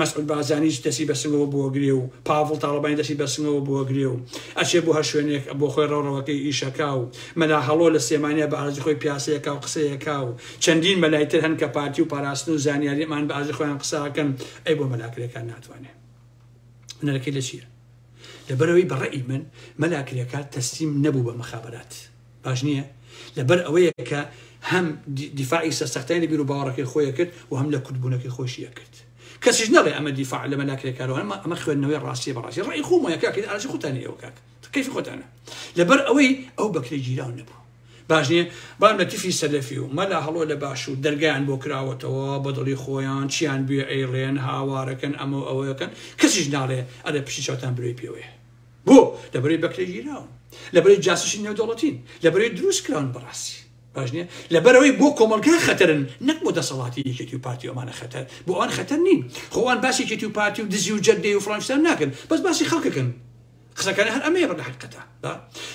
Speaker 1: مەسعود بارزانیش دەستی بە سنگەوە بووە گرێ و پاڤڵ تاڵەبانی دەستی بە سنگەوە بووە گرێ و ئەچێ بۆ هەر شوێنێک بۆ خۆی ڕەوڕەوەکەی ئیشەکا و مەلا هەڵۆ لە سلێمانیا بە ئەرزی خۆی پیاسەیەکا و قسەیەکا و چەندین مەلای تر هەن کە پارتی و پاراستن و زانیاری ئەمان بە ئەرزی خۆیان قسە ئەکەن ئەی بۆ مەلا کرێکار ناتوانێ هونەرەکەی لە چیە؟ لەبەرئەوەی بە ڕەئی من مەلا کرێکار تەسلیم نەبوو بە مخابرات. باش نییە لەبەر ئەوەیە کە هەم دیفاعی سەرسەختای لە بیرو باوەڕەکەی خۆیە کرد و هەم لە کوردبوونەکەی خۆشیە کرد کەسیش نەڵێ ئەمە دیفاع لە مەلاکرێکارەوەمە ئەمە خوێندنەوەی ڕاستی بەڕاستی ڕێی خۆمەیە کاکرد ئاژی خوتانی ئەو کاک کەیف خۆتانە لەبەر ئەوەی ئەو بەکرێ گیراو نەبوو باش نییە بام لە تیفی سەلەفی و مەلا هەڵۆ لە باش و دەرگیان بۆ کراوەتەوە بەدڵی خۆیان چیان بێ ئەیڵێن هاوارەکەن ئەمە ئەوەکەن کەسیش ناڵێ ئەرێ پشتی چاوتان برۆی پێوەیە بۆ؟ لەبەرەی بەکرێگیراون لەبەرەی جاسوسی نێودەوڵەتین لەبەرەی دروست کراون بەڕاستی باش نیە لەبەرەوەی بۆ کۆمەڵگا خەتەرن نەک بۆ دەسەڵاتی یەکێتی و پارتی ئەمانە خەتەر بۆ ئەوان خەتەر نین خۆوان باسی یەکێتی و پارتی و دزی و جەردەی و فلانشتان ناکەن بەس باسی خەڵکەکەن قسەکانی هەر ئەمەیە بەڵە حقەتە با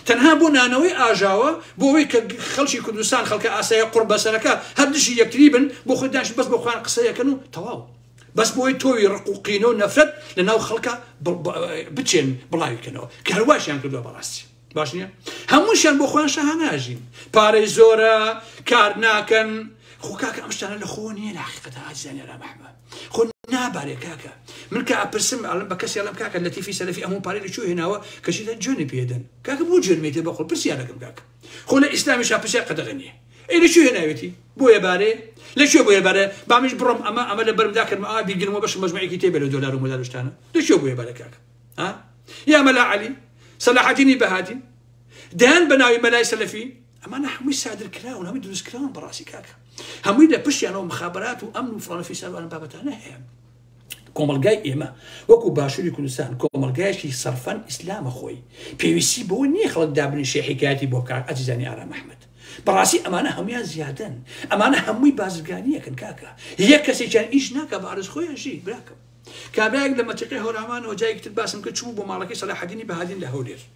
Speaker 1: تەنها بۆ نانەوەی ئاژاوە بۆ ئەوەی کە خەڵکی کوردستان خەڵکە ئاسایە قڕ بەسەرەکە هەر دژی یەکتری بن بۆ خۆدانش بەس بۆ خۆیان قسەیەکەن و تەواو بەس بۆی تۆوی ڕق و قینە و نەفرەت لە ناو خەڵکە بچێن بڵاوی کەنەوە کە هەرواشیان کردوە بەڕاستی باش نیە هەمووشیان بۆ خۆیان شەهاناژین پارەی زۆرە کار ناکەن خۆ کاکە ئەم شتانە لە خۆ نییە لە حقیقەتە ئازیزانی را بەحمە خۆ نابارێ کاکە من کە ئەپرسم ئەڵم بە کەسی ئەڵم کاکە لەتیفی سەرفی ئەمون پارەی لە چۆ هێناوە کەشیدا جوێنی پێدەن کاکە بۆ جوێنمیتێ بەخۆ پرسیارەکەم کاکە خۆ لە ئیسلامیشا پرسیار قەدەغە نییە ئەی لە کوێ هێناوێتی بۆیە بارێ لە کوێ بۆیە بارە بامش بڕۆم ئەمە ئەمە لە بەرمدا کردم ئا بیگرمەوە بەش مەجموعێکی تێ بێرە دۆلار و مۆلارشتانە لە کوێ بۆیە بارە کاکە ها یا مەلا عەلی سەلاحەدینی بەهادین دەیان بە ناوی مەلای سەلەفی ئەمانە هەمووی سادر کراون هەمووی دروستکراون بەڕاستی کاکە هەمووی لە پشتیانەوە مخابرات و ئەمن و فڵانفی ساروان بابەتانە هەیە کۆمەڵگای ئێمە وەکو باشووری کوردستان کۆمەڵگایشی سەرفەن ئیسلامە خۆی پێویستی بۆ نییە خەڵک دابنی شێحیکایەتی بۆ بکار ئەزیزانی ئارام ئەحمد بەڕاستی ئەمانە هەمویان زیادن ئەمانە هەمووی بازرگانیەکن کاکە یەک کەسێکیان ئیش ناکە بارز خۆیانشی براکەم کابراێک لە مەتیقی هەورامان و جایکتر باسم کە چوو بۆ ماڵەکەی سەلاحدینی بەهادین لە هەولێر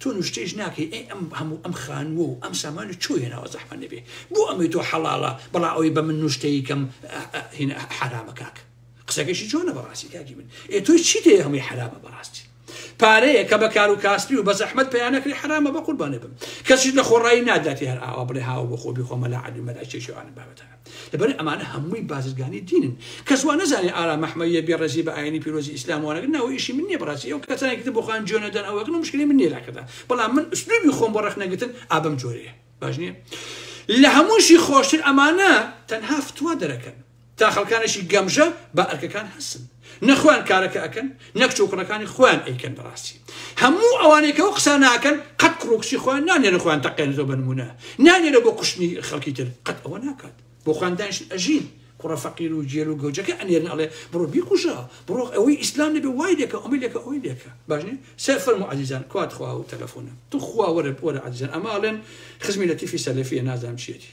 Speaker 1: تۆ نوشتەیش ناکەی ئەی ئەم هەموو ئەم خانووە و ئەم سامانە چۆ هێناوە زەحمەت نەبێ بۆ ئەمەی تۆ حەڵاڵە بەڵا ئەوەی بە من نوشتەی کەم حەرامە کاک قسەکەشی جۆنە بەڕاستی کاکی من ئێ تۆی چی دێ هەمووی حەرامە بەڕاستی پارەیە کە بە کار و کاسپی و بە زەحمت پیانەکری حرامە بە قوربانێ بم کەسیش لە خۆڕایی ناداتی هەر ئاوا بڵێ هاوە بۆ خۆبی خۆمە لە علی مەلا چێشێوانە بابەتە لەبەر ئەمانە هەمووی بازرگانی دینن کەس وا نەزانێ ئارام ئەحمەدیە بێ ڕێزی بە ئاینی پیرۆزی ئیسلام وا نەگرن ناوە ئیشی من نیە بەڕاستی ئەو کەسانێکی تر بۆ خۆیان جوێن نەدەن ئەوە ئەکەن و مشکلی من نیە لاکەدا بەڵام من ئوسلوبی خۆم بۆ ڕەخ نەگرتن ئابەم جۆرەیە باش نییە لە هەمووشی خۆشتر ئەمانە تەنها فتوا دەرەکەن تا خەڵکانێکی گەمژە بە ئەرکەکان هەستن نە خۆیان کارەکە ئەکەن نە کچ و کوڕەکانی خۆیان ئەیکەن بەڕاستی هەموو ئەوانەی کە ئەو قسانە ئەکەن قەت کوڕ و کچی خۆیان نانێرن خۆیان تەقێن زۆر بە نموونە نانێرە بۆ کوشتنی خەڵکی تر قەت ئەوە ناکات بۆ خۆیان دانیشتن ئەژین کوڕە فەقیر و جێل و گەوجەکە ئەنێرن ئەڵێ بڕۆ بیکوژە بڕۆ ئەوەی ئیسلام نەبێ وای لێکە ئەمەی لێکە ئەوەی لێکە باش نیە سێ فەرمو عەزیزان کوات خوا و تەلەفۆنە تو خوا وەرە وەرە عەزیزان ئەمە ئەڵێن خزمی لەتیفی سەلەفیە نازانم چیەتی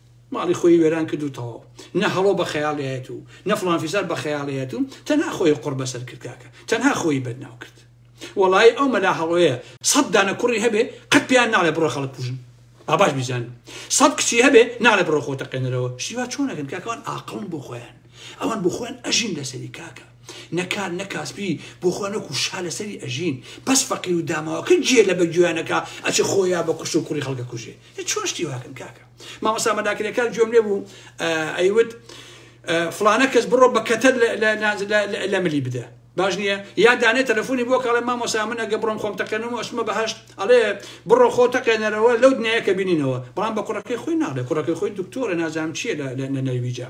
Speaker 1: ماڵی خۆی وێران کرد و تەواو نە هەڵۆ بە خەیاڵی هەیەت و نە فڵان فیسار بە خەیاڵی هەیەت و تەنها خۆی قڕ بەسەر کرد کاکە تەنها خۆی بەدناو کرد وەڵایی ئەو مەلا هەڵۆیە سەد دانە کوڕی هەبێ قەت پێیان ناڵێ بڕۆ خەڵک کوژن با باش بیزان سەد کچی هەبێ ناڵێ بڕۆ خۆ تەقێنەرەوە شیوا چۆنەکەن کاکەوان ئاقڵن بۆ خۆیان ئەوان بۆ خۆیان ئەژین لەسەری کاکە نەکار نەکاسپی بۆ خۆنەکو شا لەسەری ئەژین بەس فەقیر و داماوەکە جێ لە بە گوێیانەکە ئەچ خۆیان بە کوشت و کوڕی خەڵکە کوژێ چۆن شتی واکەن کاکە مامۆستا مەلاکرێکار گوێم لێ بوو ئەیوت فلانە کەس بڕۆ بە کەتەر لە ملی بدە باش نییە یا دانێ تەلەفۆنی بۆ کاڵێ مامۆسا من ئەگە بڕۆم خۆم تەقێنم و ئەشمە بەهشت ئەڵێ بڕۆ خۆ تەقێنەرەوە لەو دنیاە کە بینینەوە بەڵام بە کوڕەکەی خۆی ناڵێ کوڕەکەی خۆی دکتۆرە نازانام چیە لە نەرویجا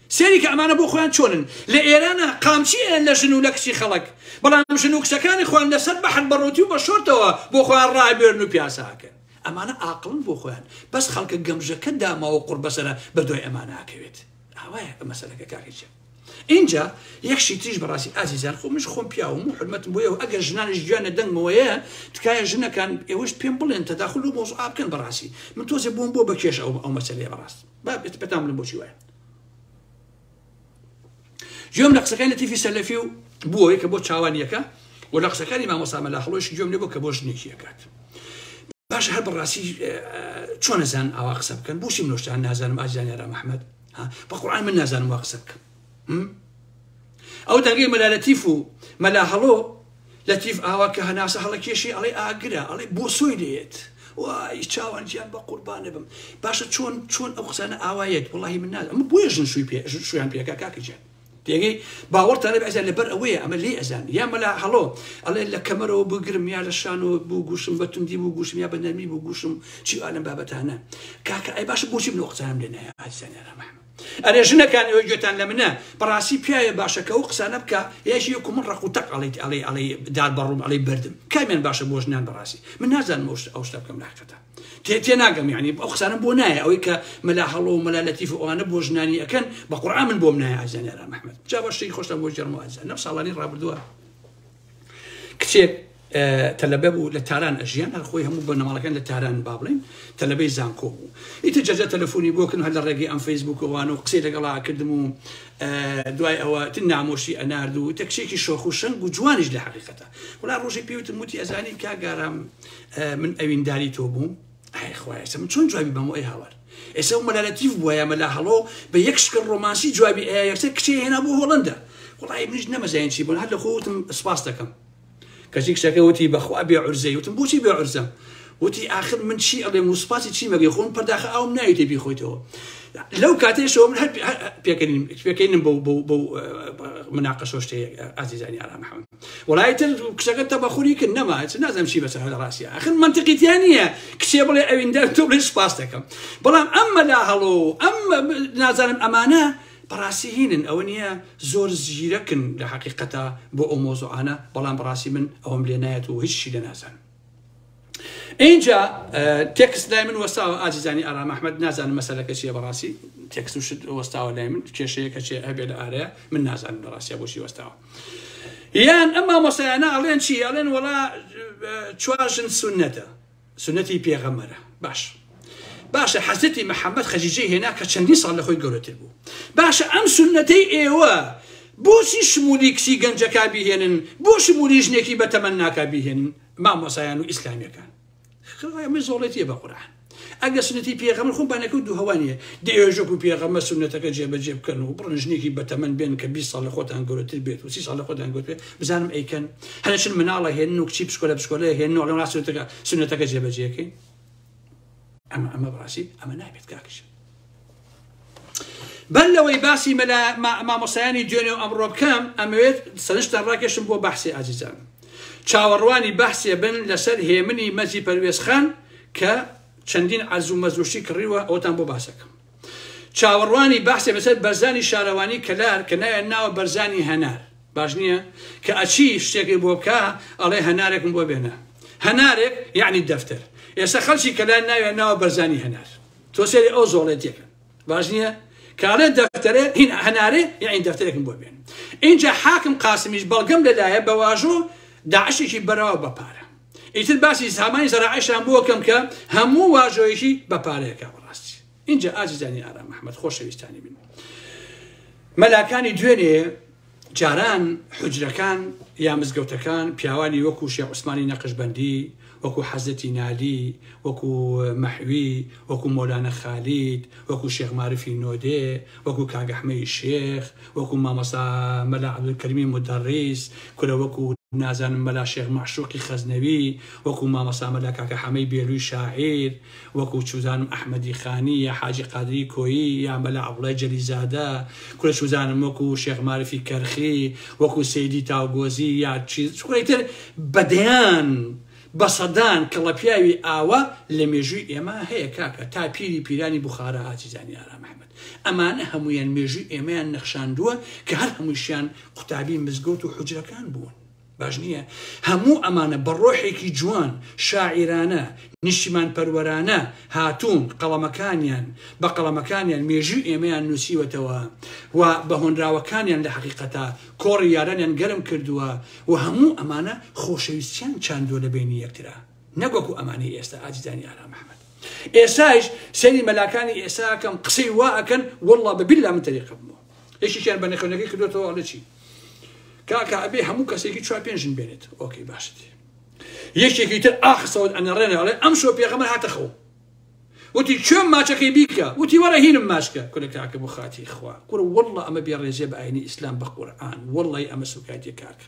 Speaker 1: سەیری کە ئەمانە بۆ خۆیان چۆنن لە ئێرانا قامچی ئەیەن لە ژن و لە کچی خەڵک بەڵام ژن و کچەکانی خۆیان لە سەر بەحر بە ڕووتی و بە شۆرتەوە بۆ خۆیان ڕابێرن و پیاسە ئەکەن ئەمانە ئاقڵن بۆ خۆیان بەس خەڵکە گەمژەکە داماوە قوڕ بەسەرە بە دوای ئەمانە ئەکەوێت ئاوایە مەسەلەکە کاکەچێت اینجا یەکشی تریش بەڕاستی ئازیزان خۆ منش خۆم پیاوم و حرمەتم بۆیەوە ئەگەر ژنانش گویانە دەنگمەوەیە تکایە ژنەکان ئێوەش پێم بڵێن تەداخل و مۆز ئابکەن بەڕاستی من تۆزێ بووم بۆ بەکێش ئەو ئەو مەسلەیە بەڕاست با بێت پێتان بڵم بۆچی وایە گوێم لە قسەکانی لەتیفی سەلەفی و بووەوەی کە بۆ چاوانیەکە و لە قسەکانی مامۆسامە لە هەڵۆش گوێم لێ بۆ کە بۆ شتێکیەکات باش هەر بەڕاستی چۆنەزان ئاوا قسە بکەن بۆشی منۆشتان نازانم ئازانیارا مححمد بە قڕان من نازانم وا قسە بکەم ئەو دەنگەی مەلا لەتیف و مەلا هەڵۆ لەتیف ئاوا کە هەناسە هەڵەکێشی ئەڵێ ئاگرە ئەڵێ بۆ سۆی لێت وای چاوان جیان بە قوربانە بم باشە چۆن چۆن ئەو قسانە ئاوایەت وڵی من ناز ئەمە بۆیە ژن شووی پێ شویان پێکا کاکە جیان تێگەی باوەڕتانە ئەزان لەبەر ئەوەیە ئەمە لێ ئەزان یا مەلا هەڵۆ ئەڵێ لە کەمەرەوە بگرم یا لە شانەوە بوو گوشم بە توندی بوو گوشم یا بە نەرمی بوو گوشم چی ئالم بابەتانە کاکە ئەی باشە بۆچی بنۆقسانم لێ نایە ئازیزانیانە مەحمە ئەرێ ژنەکان ئێوە گوێتان لە منە بەڕاستی پیاوێ باشە کە ئەو قسانە بکە یاژی وەکو من ڕق و تەق ئەڵیت ئەڵێ ئەڵێ دار بەڕووم ئەڵێ بردم کامیان باشە بۆ ژنان بەڕاستی من نازانم ئەو شتە ئەو شتە بکەم لاقەتە تێ تێ ناگەم یعنی ئەو قسانە بۆ نایە ئەوەی کە مەلا هەڵۆ و مەلا لەتیف و ئەوانە بۆ ژنانی ئەکەن بە قورئان من بۆم نایە ئازانیارا محمد جا بە شتێکی خۆشتان بۆ جەرمەوە ئازان لەم ساڵانی ڕابردووە کچێک تەلەبە بوو لە تاران ئەژیان هەر خۆی هەموو بە نەماڵەکان لە تاران با بڵێن تەلەبەی زانکۆ بوو ئیتر جەجە تەلەفۆنی بۆکن هەر لە ڕێگەی ئەم فەیسبووکەوان و قسەی لەگەڵا کردم و دوای ئەوە تن نامۆشی ئەنارد و تەکشێکی شۆخ و شەنگ و جوانیش لە حقیقەتە وڵا ڕۆژی پێوتم وتی ئەزانی کاگارام من ئەوینداری تۆ بووم ئای خوایە ئێستا من چۆن جوابی بەمەوە ئەی هاوار ئێستا و مەلا لەتیف بووە یا مەلا هەڵۆ بە یەک شکل ڕۆمانسی جوابی ئەیە یەکسەر کچێ هێنا بۆ هۆڵەندا وڵی منیش نەمەزانین چی بوون هەر لە خۆوتم سپاس دەکەم کەچی کچەکە وتی بەخوا بێ عرزەی وتم بۆچی بێ عرزە وتی ئاخر من چی ئەڵێ موسپاسی چی مەگەی خۆن پەرداخە ئەوم ناوی تێ بیخۆیتەوە لەو کاتێشەوە من هەر پێکەنیم پێکەینم بۆ بۆ بۆ مناقەشۆشتەیە ئازیزانی ئارام حەمد وەڵا ئیتر کچەکە تەبەخوری کرد نەما چ نازم چی بەسەر هەلە ڕاستە ئەخر منتقیتیان نییە کچێ بڵێ ئەویندار تۆ بڵێ سپاس دەکەم بەڵام ئەم مەلا هەڵۆ ئەم نازانم ئەمانە بەڕاستی هینن ئەوە نییە زۆر زیرەکن لە حقیقەتە بۆ ئەو مۆزوعانە بەڵام بەڕاستی من ئەوم لێ نایەت و هیچ شی لە نازانم اینجا تێکست لای من وەساوە ئازیزانی ئارام ئەحمد نازانم مەسەلەکە چیە بەڕاستی تێکست و شت وەستاوە لای من کێشەیەکە چێ هەبێ لە ئارەیە من نازانم بەڕاستە بۆشی وەستاوە یان ئەمما مۆسایانە ئەڵێن چی ئەڵێن وڵا چوارژن سونەتە سونەتی پێغەمەرە باش باشە حەزرەتی محمد خەجیجەی هێنا کە چەندین ساڵ لە خۆی گەورەتر بوو باشە ئەم سنەتەی ئێوە بۆچی شمولی کچی گەنجەکە بیهێنن بۆ شمولی ژنێکی بەتەمەن ناکە بیهێنن مامۆسایان و ئیسلامیەکان خڕێمە زۆڵێتیە بە قورآن ئەگە سنەتی پێغەمە خۆ بانەکە و دووهوانە دێژۆک و پێغەمە سنەتەکە جێبەجێ بکەن و بڕن ژنێکی بەتەمەن بێن کە 20 ساڵ لە خۆتان گەورەتر بێت و سی ساڵ لە خۆتان گوت بزانم ئەیکەن هەرچن مناڵە هێن و کچی پشکۆلە پشکۆلە هێن نۆڵە ڕاستەکە سنەتەکە جێبەجێکەین ئەمە ئەمە بەڕاستی ئەمە نابێت کاک ژیر بەر لەوەی باسی مەلا مامۆسایانی دوێنێ و ئەمڕۆ بکەم ئەمەوێت سەرشتان ڕاکێشم بۆ بەحسی ئازیزان چاوەڕوانی بەحسێ بن لەسەر هێمنی مەزی پەروێزخان کە چەندین عەرز و مەزوشی کڕیوە ئەوتان بۆ باسەکەم چاوەڕوانی بەحسێ بەسەر بەرزانی شارەوانی کەلار کە ناوێن ناوە بەرزانی هەنار باش نییە کە ئەچی شتێکی بۆ بکە ئەڵێ هەنارێکم بۆ بێنە هەنارێک یعنی دەفتەر ئێستا خەلکی کەلار ناوێن ناوە بەرزانی هەنار تۆ سێری ئەو زۆڵێتێکە باش نییە کاڵێ دەفتەرێ هین هەنارێ یعنی دەفتەرێکم بۆ بێن اینجا حاکم قاسمیش بەڵگەم لەلایە بە واژۆ داعشێکی بەرەوە بەپارە ئیتر باسی سامانی زەرەعەشان بۆکەم کە هەموو واژۆیەکی بە پارەیەکە بەڕاستی اینجا ئازیزانی ئارام محمد خۆشەویستانی من مەلاکانی دوێنێ جاران حجرەکان یا مزگەوتەکان پیاوانی وەکو شێ عوسمانی نەقشبندی وەکو حەزەتی نالی وەکو مەحوی وەکو مۆلانە خالید وەکو شێخمارفی نۆدێ وەکو کاگەحمەی شێخ وەکو مامۆستا مەلا عبدالکریمی مودەڕیس کورە وەکو نازانم مەلا شێخ مەعشوقی خەزنەوی وەکو مامۆستا مەلا کاکە حەمەی بێلوی شاعیر وەکو چوزانم ئەحمەدی خانی یا حاجی قادری کۆیی یا مەلا عەبدوڵای جەلیزادە کورە چوزانم وەکو شێخ مارفی کەرخی وەکو سەیدی تاوگۆزی یا چیز کورە ئیتر بەدەیان بە سەدان کڵەپیاوی ئاوا لە مێژووی ئێمە هەیە کاکە تا پیری پیرانی بوخارا ئازیزانی ئارام ئەحمەد. ئەمانە هەموویان مێژووی ئێمەیان نەخشاندووە کە هەر هەمووشیان قوتابی مزگەوت و حجرەکان بوون. باش نییە هەموو ئەمانە بە ڕۆحێکی جوان شاعیرانە نیشتیمان پەروەرانە هاتوون قەڵەمەکانیان بە قەڵەمەکانیان مێژوی ئێمەیان نووسیوەتەوە و بە هۆنراوەکانیان لە حقیقەتا کۆڕی یارانیان گەرم کردووە و هەموو ئەمانە خۆشەویستیان چاندووە لە بینی یەکترا نەک وەکو ئەمانەی ئێستا ئازیزانی ئارام محمد ئێسایش سەری مەلاکانی ئێساکەم قسەی وا ئەکەن والله بە بالله من تەریقە بمەوە یەکیشیان بە نەخێنەکەی کردوێتەوە ئەڵێ چی کاکە ئەبێ هەموو کەسێکی چوار پێنجن بێنێت ئۆکەی باشت یەکێکی تر ئاخسەوت ئەنەڕێنە ئەڵێ ئەم شۆ پێغەمە هاتە خۆ وتی کوێم ماچەکەی بیکە وتی وەرە هینم ماچکە کورە کاکە بۆ خاتی خوا کوڕ والله ئەمە بێ ڕێزێ بە ئاینی ئیسلام بە قورئان والله ئەمە سوکایەتی کاکە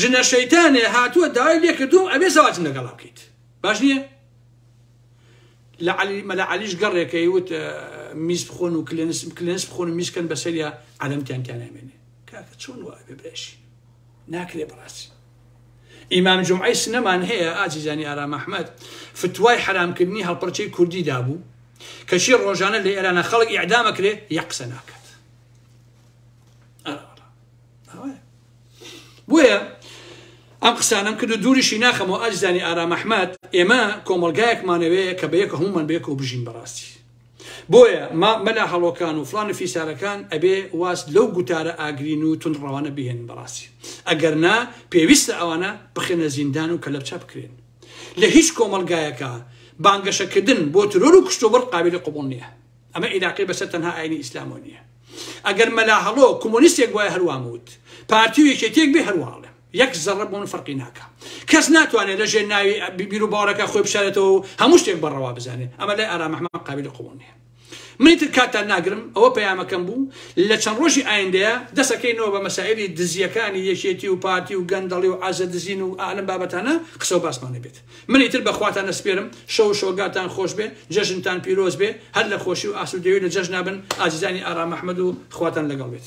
Speaker 1: ژنە شەیتانێ هاتووە داوای لێ کردوم ئەبێ زەواجم لەگەڵا بکەیت باش نییە لەعلی مەلا علیش گەڕێکەی وت میز بخۆن و کلێنس کلێنس بخۆن و میزکەن بەسەریا عەلەمتیان تیانامێنێ کاکە چۆن وە ئەبێ برێشی ناکرێ بڕاستی ئیمام جمعی سنەمان هەیە ئازیزانی ئارام ئەحمد فتوای حرامکردنی هەڵپەرچەی کوردی دابوو کەچی ڕۆژانە لە ئێرانە خەڵک ئەعدامەکرێ یە قسە ناکە بۆیە ئەم قسانم کرد و دووریشی ناخەمەوە ئاجزانی ئارام ئەحمد ئێمە کۆمەلگایەکمانەوەیە کە بە یەکە هەمومان بێک و بژین بەڕاستی بۆیە ما مەلا هەڵۆکان و فلان و فیسارەکان ئەبێ واز لەو گوتارە ئاگرین و تون ڕەوانە بهێن بەڕاستی ئەگەر نا پێویستە ئەوانە بخێنە زیندان و کەلەپچە بکرێن لە هیچ کۆمەلگایەکە بانگەشەکردن بۆ ترۆر و کشتۆبڕ قابلی قوبڵ نییە ئەمە ئیلاقەی بەسەر تەنها ئاینی ئیسلامەوە نییە ئەگەر مەلا هەڵۆ کومۆنیستێک بوایە هەر وام وت پارتی و یەکێتیەک بێ هەر وا ئەڵێم یەک زەڕە بۆ من فەرقی ناکا کەس ناتوانێت لە ژێر ناوی بیبیر و باوەڕەکە خۆی بشارێتەوە و هەموو شتێک بەڕەوا بزانێت ئەمە لای ئارام ئەحمەد قابلی قبوڵ نییە منی تر کاتتان ناگرم ئەوە پەیامەکەم بوو لە چەند ڕۆژی ئایندەیە دەسەکەینەوە بە مەسائلی دزیەکانی یەکێتی و پارتی و گەندەڵی و عزە دزین و ئالم بابەتانە قسە و باسمان نەبێت من ئیتر بە خواتان ئەسپێرم، شەو و شۆگاتان خۆش بێ، جەژنتان پیرۆز بێ، هەر لە خۆشی و ئاسوودەیی و لە جەژنا بن ئازیزانی ئارام ئەحمەد و خواتان لەگەڵ بێت.